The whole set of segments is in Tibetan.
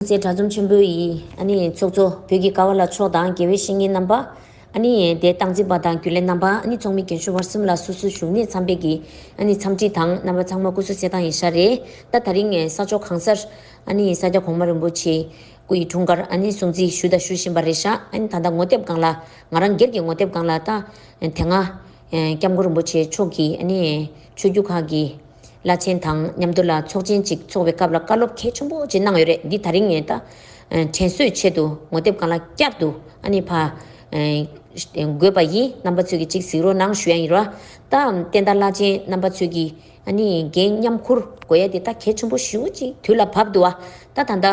ཚེ་དགྲ་འཛོམས་ཆེན་པོ་ཡི། ཚོགས་གཙོ། བོད་ཀྱི་ཀ་བ་ལ་མཆོག་དང་དགེ་བའི་བཤེས་གཉེན་རྣམ་པ། དད་སྟངས་འཛིན་པ་དང་རྒྱུན་ལས་རྣམ་པ། ཚོགས་མི་རྒན་གཞོན་བར་གསུམ་ལ་སོ་སོའི་བཞུགས་གནས་འཚམ་པའི་གྱི། འཚམས་འདྲི་དང་རྣམ་པ་ཚང་མ་སྐུ་བསོད་ཚེ་དང་ཡི་ཤ་རེ། ད་ད་རིང་ས་ཕྱོགས་གང་སར། ས་སྐྱ་གོང་མ་རིན་པོ་ཆེ། སྐུ་ཡི་དྲུང་འཁར། སྲུང་བརྩི་ཞུ་དང་ཞུ་བཞིན་པ་རེད་ཤག་ད་ལྟ་ངོ་དེབ་སྒང་ལ། ང་རང་སྒེར་གྱི་ངོ་དེབ་སྒང་ལ་ད། དེ་སྔ། སྐྱབས་མགོན་རིན་པོ་ཆེ་མཆོག་གིས། ཆོས་བརྒྱུད་ཁག་གི། བླ་ཆེན་དང་མཉམ་དུ་ལ་ཚོགས་ཆེན་གཅིག་འཚོགས་པའི་སྐབས་ལ་བཀའ་སློབ་གལ་ཆེན་པོ་གཅིག་གནང་ཡོད་རེད་འདི་ད་རིང་ངས་ད་དྲན་གསོས་ཆེད་དུ་ངོ་དེབ་གང་ལ་བསྐྱར་དུ་ཨ་ནི་ཕ་དགོས་པ་ཡིན་རྣམ་པ་ཚོས་ཀྱི་གཅིག་གཟིགས་རོགས་གནང་ཞུ་ཡ་ཡིན་ར། ད་བསྟན་དར་བླ་ཆེན་རྣམ་པ་ཚོས་ཀྱི་ཨ་ནི་འགན་མཉམ་འཁུར་དགོས་ཡ་དེ་ད་གལ་ཆེན་པོ་ཞུ་གཅིག་དུས་ལ་བབ་འདུག་ད་ད་ད་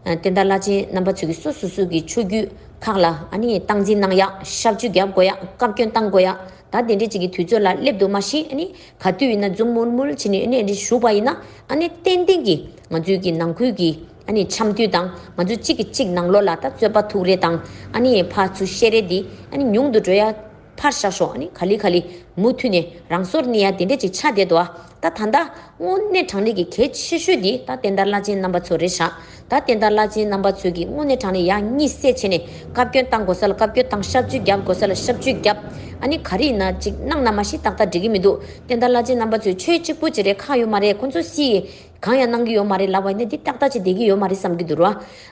བསྟན་དར་བླ་ཆེན་རྣམ་པ་ཚོས་ཀྱི་སོ་སོ་སོས་ཀྱི་ཆོས་རྒྱུད་ཁག་ལ་ཨ་ནི་སྟངས་འཛིན་གནང་ཡ་ཤབ་ཆུ་བརྒྱབ་དགོས་ཡ་བཀའ་བཀྱོན་བཏང་དགོས་ཡ་ད་དེ་འདྲས་གཅིག་གི་དུས་ཚོད་ལ་སླེབ་འདུག་མ་གཞི་ཨ་ནི་ག་དུས་ཡིན་ན་འཛུམ་དམུལ་དམུལ་བྱེད་ནས་ཨ་ནི་བཞུགས་པ་ཡིན་ན་ཨ་ནི་ཏན་ཏན་གྱིས་ང་ཚོའི་གི་ནང་ཁུལ་གྱི་ཨ་ནི་འཆམ་མཐུན་དང་ང་ཚོ་གཅིག་གི་གཅིག་ནང་ལོག་ལ་ད་རྩོད་པ་ཐུག་རེ་དང་ཨ་ནི་ཕ་ཚུ་ཤེས་རེ་འདི་ཨ་ནི་ཉུང་དུ་འགྲོ་ཡ། ཕར་བཞག་ཤོག་ཨ་ནི་ག་ལི་ག་ལི་མུ་མཐུད་ནས་རང་སོར་གནས་ཡ་དེ་འདྲས་ཅིག་ཆགས་བསྡད་འདུག་ཨ་ད་ད་ད་དངོས་གནས་དྲང་ལེགས་ཀྱི་གལ་ཆེ་ཤོས་འདི་ད་བསྟན་དར་བླ་ཆེན་རྣམ་པ་ཚོ་རེད་ཤག་ད་བསྟན་དར་བླ་ཆེན་རྣམ་པ་ཚོས་ཀྱིས་དངོས་གནས་དྲང་གནས་ཡག་གཉིས་བསད་བྱས་ནས་བཀའ་བཀྱོན་བཏང་དགོས་ས་ལ་བཀའ་བཀྱོན་བཏང་ཤབ་བཅོས་བརྒྱབ་དགོས་ས་ལ་ཤབ་བཅོས་བརྒྱབ། ཨ་ནི་ག་རེ་ཡིན་ན་ཅིག་གནང་ན་མ་ཤི་ཏག་ཏག་འགྲིག་གི་མི་འདུག་བསྟན་དར་བླ་ཆེན་རྣམ་པ་ཚོས་ཆོས་གཅིག་པུ་བྱེད་རའི་ཁག་ཡོད་མ་རེད་ཁོ་ཚོ་སི་ཡིས་གང་ཡང་གནང་གི་ཡོད་མ་རེད་ལབ་བ་ཡིན་ན་འདི་ཏག་ཏག་བྱེད་བསྡད་ཀྱི་ཡོད་མ་རེད་བསམ་གྱི་འདུག་ར་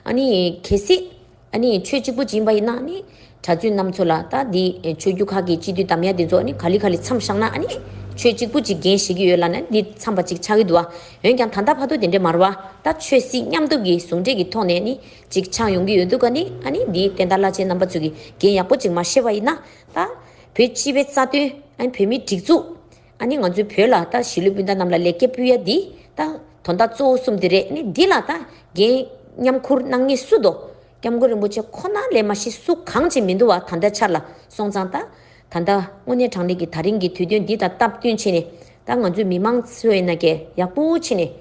ཨ་ནི་གལ་སྲིད། ཨ་ནི་ཆོས་གཅིག་པུ་སྦྱིན་པ་ཡིན་ན་ནི། གྲྭ་བཙུན་རྣམས་ཚོ་ལ་ད་འདི་ཆོས་རྒྱུད་ཁག་གི་སྤྱི་འཐུས་དམ་ཡ་དེ་ཚོ་ནི་ག་ལི་ག་ལི་མཚམས་བཞག་ན་ཨ་ནི། ཆོས་གཅིག་པུ་གཅིག་རྒྱན་བཞེས་ཀྱི་ཡོད་ལ་ནི་འདི་མཚམས་པ་ཅིག་ཆགས་ཀྱི་འདུག་ཨ། འོན་ཀྱང་ད་ལྟ་བར་དུ་དེ་འདྲའི་མར་བ་ད་ཆོས་སྲིད་མཉམ་སྡུབ་ཀྱི་ཟུང་འབྲེལ་གྱི་ཐོག་ནས་ནི་ཅིག་ཆགས་ཡོང་གི་ཡོད་འདུག་ག་ནི་ཨ་ནི་འདི་བསྟན་དར་བླ་ཆེན་རྣམ་པ་ཚོས་ཀྱི་འགན་ཡག་པོ་ཅིག་མ་བཞེས་པ་ཡིན་ན་ད། བོད་སྤྱི་བའི་རྩ་དོན་ཨ་ནི་བོད་མིའི་སྒྲིག་འཛུགས། ཨ་ནི་ང་ཚོའི་བོད་ལ་ད་གཞིས་ལུས་སྤུན་ཟླ་རྣམས་ལ་ལེགས་སྐྱེས་སྤུལ་ཡ་འདི་ད་དོ་ཟླ་གཙོ་བོ་གསུམ་འདི་རེད་ནི་འདི་ལ་ད་རྒན་མཉམ་འཁུར་གནང་ངེས་སུ་འདོ། སྐྱབས་མགོན་རིན་པོ་ཆེ་ཁོ་ན་ལས་མ་གཞི་སུ་གང་ཅིག་མི་འདུ་བ་ད་ལྟ་འཆར་ལ་སོང་ཙང་ད་ད་ད་དངོས་གནས་དྲང་ལེགས་ཀྱི་ད་རིང་གི་དུས་སྟོན་འདི་ད་སྟབས་བསྟུན་ཕྱིན་ནས་ད་ང་ཚོའི་མི་མང་ཚོའི་ན་གས་ཡག་པོ་ཕྱིན་ནས་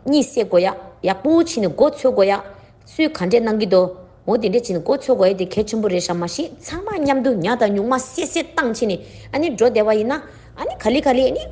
གཉིད་སད་དགོ་ཡག་ཡག་པོ་ཕྱིན་ནས་མགོ་འཚོས་དགོ་ཡག་སུས་ག་འདྲས་གནང་གི་འདུག་མོ་དེ་འདྲས་བྱེད་ན་མགོ་འཚོས་དགོས་ཡས་དེ་གལ་ཆེན་པོ་རེད་ཤག་མ་ཤེས་ཚང་མ་མཉམ་དུ་ཉག་དང་ཉུག་མ་སད་སད་བཏང་ཕྱིན་ནས་ཨ་ནི་འགྲོ་བདེ་བ་ཡིན་ན་ཨ་ནི་ག་ལི་ག་ལི་ཨ་ནི།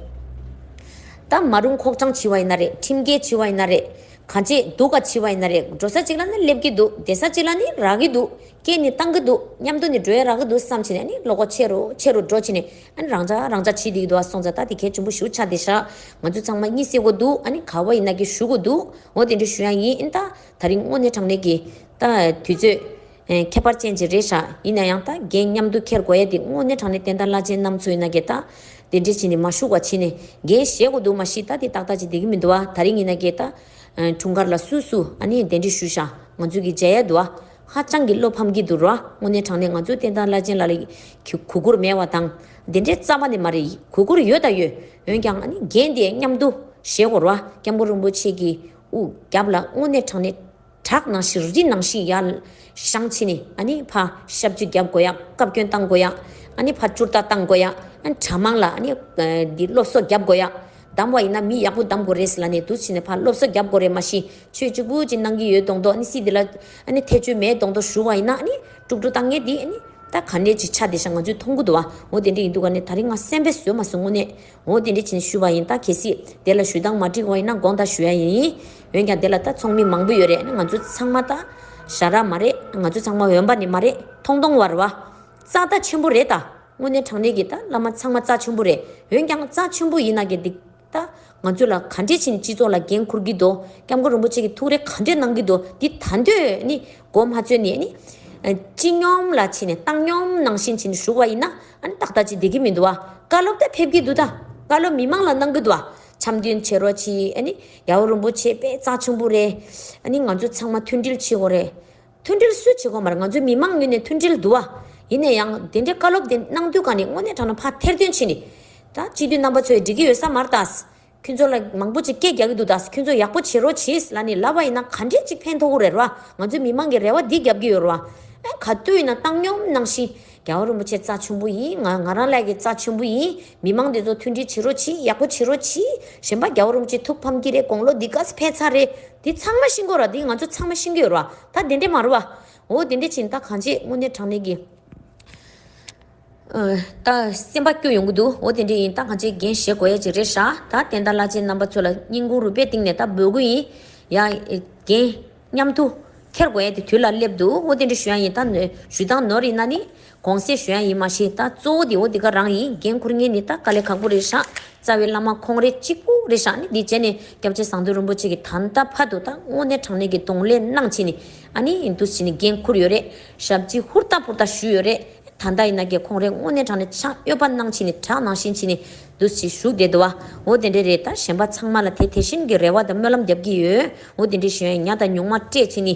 ད་མ་རུང་ཁོག་གྲངས་བྱི་བ་ཡིན་ན་རེད་ཁྲིམས་འགལ་བྱི་བ་ཡིན་ན་རེད་ག་འདྲས་འདུག་ག་བྱི་བ་ཡིན་ན་རེད་འགྲོ་ས་གཅིག་ལ་ནི་སླེབས་ཀྱི་འདུག་བསྡད་ས་གཅིག་ལ་ནི་རག་གི་འདུག་སྐད་ནི་བཏང་གི་འདུག་མཉམ་དུ་ནི་འགྲོ་ཡས་རག་གི་འདུག་བསམ་ཕྱིན་ནས་ཨ་ནི་ལོག་གོ་ཆེ་རུ་ཆེ་རུ་འགྲོ་ཕྱིན་ནས། ཨ་ནི་རང་ཅག་ཕྱིས་སྡིག་ཏོ་ཨ་སོང་ཙ་ད་དེ་གལ་ཆེན་པོ་ཞུ་ཆགས་དེ་ཤག་ང་ཚོས་ཚང་མ་གཉིད་སད་གོ་འདུག་ཨ་ནི་ག་བ་ཡིན་ན་གི་ཞུ་གོ་འདུག་འོ་དེ་འདྲ་ཞུ་ཡང་ཡིན་ཨིན་ད་ད་རིང་དངོས་གནས་དྲང་གནས་ཀྱི། ད་དུས་ཚོད། ཁྱད་པར་ཅན་ཅིག་རེད་ཤག་ཡིན་ན་ཡང་ད་རྒན་མཉམ་དུ་འཁྱེར་དགོས་ཡ་དེ་དངོས་གནས་དྲང་གནས་བསྟན་དར་བླ་ཆེན་ནམ་ཚོ་ཡིན་ན་གི་ད། དེ་འདྲས་ཕྱིས་ནས་མ་ཞུགས་བ་ཕྱིས་ནས་རྒན་བཞེས་གོ་འདུག་མ་གཞི་ད་དེ་ཏག་ཏག་ཅིག་དེ་གི་མི་འདུག་ཨ་ད་རིང་ཡིན་ན་གི་ད། འཁྲུངས་སྐར་ལ་སུ་སུ་ཨ་ནི་དེ་འདྲས་ཞུ་ཤག་ང་ཚོས་གི་མཇལ་ཡ་འདུག་ཨ། ཧ་ཅང་གི་བློ་ཕམ་གྱི་འདུག་རོ་ཨ། དངོས་གནས་དྲང་གནས་ང་ཚོའི་བསྟན་དར་བླ་ཆེན་ལ་ལ་གི་གུས་བཀུར་མེད་བ་དང། དེ་འདྲའི་རྩ་བ་ནས་མ་རེད་གུས་བཀུར་ཡོད་དང་ཡོད། འོན་ཀྱང་ཨ་ནི་རྒན་དེའི་མཉམ་དུ་བཞེས་གོ་རོ་ཨ། སྐྱབས་མགོན་རིན་པོ་ཆེ་གི་དབུ་རྒྱབ་ལ་དངོས་གནས་དྲང་གནས་དྲག་ནང་ཞིག་རི་ནང་ཞིག་ཡར་བཞང་ཕྱིན་ནས་ཨ་ནི་ཕ་ཞབས་ཅིག་བརྒྱབ་དགོས་ཡ་བཀའ་བཀྱོན་བཏང་དགོས་ཡ་ཨ་ནི་ཕ་བཅུར་ལྟ་བཏང་དགོས་ཡ་ཨ་ནི་གྲྭ་མང་ལ་ཨ་ནི་འདི་སློབ་གསོ་བརྒྱབ་དགོས་ཡ། གདམ་བ་ཡིན་ན་མི་ཡག་པོ་གདམ་དགོས་རེད་ཟེར་ལ་ནས་དུ་ཕྱིན་ནས་ཕར་སློབ་གསོ་རྒྱབ་དགོས་རེད་མ་གཞི་ཆོས་གཅིག་པུ་གཅིག་གནང་གི་ཡོད་གདོང་གདོག་ནི་སྲིད་འདི་ལ་ཨཱ་ཐེ་ཆོས་མེད་གདོང་གདོག་ཞུ་བ་ཡིན་ན་ནི་དཀྲུག་དཀྲུག་ལྟ་ངན་འདི་ནི་ད་ག་འདྲའི་ཆ་འདི་ཤ་ང་ཚོའི་ཐོང་གུ་དུ་བ་འོ་དེ་འདྲའི་ཡིན་འདུག་ག་ནི་ད་རིང་ང་སེམས་པས་བཟོད་མ་སོང་དངོས་གནས་འོ་དེ་འདྲའི་བྱིན་ནས་ཞུ་བ་ཡིན་ད་གལ་སྲིད་དེ་ལ་ཞུ་སྟངས་མ་འགྲིག་བ་ཡིན་ན་དགོངས་དག་ཞུ་ཡ་ཡིན་འོན་ཀྱང་དེ་ལ་ད་ཚོང་མི་མང་པོ་ཡོད་རེད་ང་ཚོ་ཚང་མ་ད་ཞྭ་ར་མ་རེད་ང་ཚོ་ཚང་མ་འོན་པ་ནི་མ་རེད་ཐོང་ཐོང་བར་བ་ཙག་ད་ཆེན་པོ་རེད་ད། དངོས་གནས་དྲང་གནས་ཀྱི་ད་བླ་མ་ཚང་མ་རྩ་ཆེན་པོ་རེད་འོན་ཀྱང་རྩ་ཆེན་པོ་ཡིན་ན་གི་འདིག་ད་ང་ཚོས་ལ་ག་འདྲས་ཕྱིན་སྤྱི་ཚོགས་ལ་འགན་འཁུར་གི་འདུག་སྐྱབས་མགོན་རིན་པོ་ཆེ་གི་ཐུགས་རེ་ག་འདྲས་གནང་གི་འདུག་འདི་ད་འདོད་ནི་མགོ་མ་ཚོས་ནི་ནི། སྤྱི་སྙོམས་ལ་ཕྱིན་ནས་བཏང་སྙོམས་ནང་བཞིན་ཕྱིན་བཞུགས་བ་ཡིན་ན་ཨ་ནི་ཏག་ཏག་ཅིག་བསྡད་གི་མི་འདུག་བཀའ་སློབ་ད་ཕེབས་གི་འདུག་ད་བཀའ་སློབ་མི་མང་ལ་གནང་གི་འདུག་འཆམ་མཐུན་བྱེད་རོགས་གྱིས་ཨ་ནི་ཡ་བོ་རིན་པོ་ཆེ་དཔེ་རྩ་ཆེན་པོ་རེད་ཨ་ནི་ང་ཚོ་ཚང་མ་མཐུན་སྒྲིལ་བྱེད་དགོས་རེད། མཐུན་སྒྲིལ་སུས་བྱེད་གོང་མར་ང་ཚོའི་མི་དམངས་ངོས་ནས་མཐུན་སྒྲིལ་འདུ་བ། ཡིན་ནས་ཡང་དེ་འདྲའི་བཀའ་སློབ་དེ་གནང་དུས་གང་ནས་དངོས་གནས་དྲང་ན་ཕ་ཐེར་དོན་ཆེ་ནི། ད་སྤྱི་འཐུས་རྣམ་པ་ཚོས་འགྲིག་གི་ཡོད་ས་མ་རེད་ད། ཁྱོད་ཚོ་ལ་མང་པོ་ཅིག་སྐད་རྒྱག་གི་འདུག་ད་ཁྱོད་ཚོ་ཡག་པོ་བྱེད་རོགས་བྱས་ལ་ནི་ལབ་པ་ཡིན་ན་ག་འདྲས་ཅིག་ཕན་ཐོག་གུ་རེད་ར་ང་ཚོའི་མི་དམངས་ཀྱི་རེ་བ་འདི་རྒྱབ་ཀྱི་ཡོད་ར། ཨེ་ག་དུས་ཡིན་ན་བཏང་སྙོམས་གནང་ཤིང། རྒྱལ་བ་རིན་པོ་ཆེ་རྩ་ཆེན་པོ་ཡིན་ང་ང་རང་ལས་ཀྱི་རྩ་ཆེན་པོ་ཡིན། མི་མང་འདི་ཚོ་མཐུན་སྒྲིལ་བྱེད་རོགས་གྱིས་ཡག་པོ་བྱེད་རོགས་གྱིས་གཞན་པ་རྒྱ་བོ་རུམ་གྱིས་ཐུགས་ཕམ་གྱི་རེད་དགོང་ལོ་འདི་ག་ས་ཕན་ཚ་རེད་དེ་ཚང་མ་ཤི་འགོ་ར་དེ་ང་ཚོ་ཚང་མ་ཤི་འགོས་ར་ད་དེ་འདྲས་མ་རུ་བ་འོ་དེ་འདྲས་ཕྱིན་ད་གང་བྱེད་དངོས་གནས་དྲང་གནས་ཀྱི་ད་སེམས་པ་སྐྱོ་ཡོང་གི་འདུག་འོ་དེ་འདྲས་ཡིན་ད་གང་བྱེད་འགན་བཞེས་དགོས་ཡ་ཅིག་རེད་ཧྲ་ད་བསྟན་དར་བླ་ཆེན་རྣམ་པ་ཚོ་ལ་སྙིང་ཁུང་རུས་པའི་གཏིང་ནས་ད་འབོད་དགོས་ཡིན་ཡ་རྒན། སྙམ་དུ། ཁྱེར་དགོས་ཡས་དེ་དུས་ལ་སླེབས་འདུག་འོ་དེ་འདྲའི་ཞུ་ཡང་ཡིན་ད། ཞུ་དང་ནོར་ཡིན་ན་ནི། གོང་གསལ་ཞུ་ཡང་ཡིན་མ་ཤེས་ད། གཙོ་བོ་དེ་འོ་དེ་ག་རང་ཡིན་འགན་འཁུར་ངེས་ནི་ད་དཀའ་ལས་ཁག་པོ་རེད་བཞག། རྩ་བའི་བླ་མ་ཁོང་རེ་གཅིག་པུ་རེད་བཞག་ནི་འདི་བྱས་ནས་སྐྱབས་རྗེ་ཟངས་མདུད་རིན་པོ་ཆེ་གི་ད་ལྟ་ཕ་དུ་ད་དངོས་གནས་དྲང་གནས་ཀྱི་གདོང་ལས་གནང་བྱས་ནི་ཨ་ནི་འདུ་བྱས་ནི་འགན་འཁུར་ཡོད་རེད་ཞབས་སྤྱི་ཧུར་ཐག་ཕུར་ཐག་ཞུས་ཡོད་རེད་ད་ད་ཡིན་ན་ཀྱེ་ཁོང་རེ་དངོས་གནས་དྲང་གནས་ཕྱག་གཡོད་པ་གནང་བྱས་ནི་དྲག་གནང་བཞིན་བྱས་ནི། འདུ་ཤེས་ཞུགས་དེ་འདུ་བའོ། དེ་འདྲའི་རེ་ལྟར་ཞེན་པ་ཚང་མ་ལ་དེ་དེ་བཞིན་གྱི་རེ་བ་དང་སྨོན་ལམ་བརྒྱབ་ཀྱི་ཡོད། འོ་དེ་འདྲའི་གཞོན་ནུ་དང་ཉུང་མ་སྤྲད་ཚེ་ནི།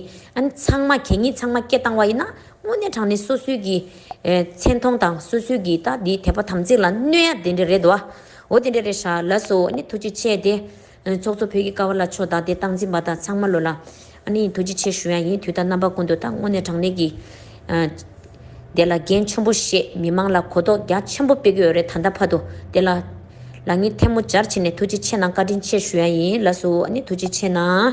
ཚང་མ་གད་སྙིགས་ཚང་མ་སྐྱེ་བཏང་བ་ཡིན་ན། དངོས་གནས་དྲང་ནི་སོ་སོའི་གི། མཚན་མཐོང་དང་སོ་སོའི་གི་ད་དེའི་དད་པ་དམ་ཚིག་ལ་གནོད་ཡ་དེ་འདྲའི་རེ་འདུ་བའོ། དེ་འདྲའི་རེ་ཧྲ་ལ་སོ་ནི་ཐུགས་རྗེ་ཆེ་དེ། ཚོགས་གཙོ་བོད་ཀྱི་ཀ་བ་ལ་ཕྱོགས་བདག་སྟེ་སྟངས་འཛིན་པ་དག་ཚང་མ་ལོ་ལ། ཨ་ནི་ཡིན་ཐུགས་རྗེ་ཆེ་ཞུ་ཡང་ཡིན་དུས་ད་རྣམ་པ་ཀུན་ཏུ་དང་དངོས་གནས་དྲང་གནས་ཀྱིས། དེ་ལ་འགན་ཆེན་པོ་བཞེས་མི་མང་ལ་གོ་རྟོགས་རྒྱ་ཆེན་པོ་སྤེལ་གྱི་ཡོད་རེད་ད་ལྟ་བར་དུ་དེ་ལ། ལ་ཉིན་ཐལ་མོ་སྦྱར་ཕྱིན་ནས་ཐུགས་རྗེ་ཆེ་གནང་བཀའ་དྲིན་ཆེ་ཞུ་ཡང་ཡིན་ལ་སུ་ཨ་ནི་ཐུགས་རྗེ་ཆེ་གནང།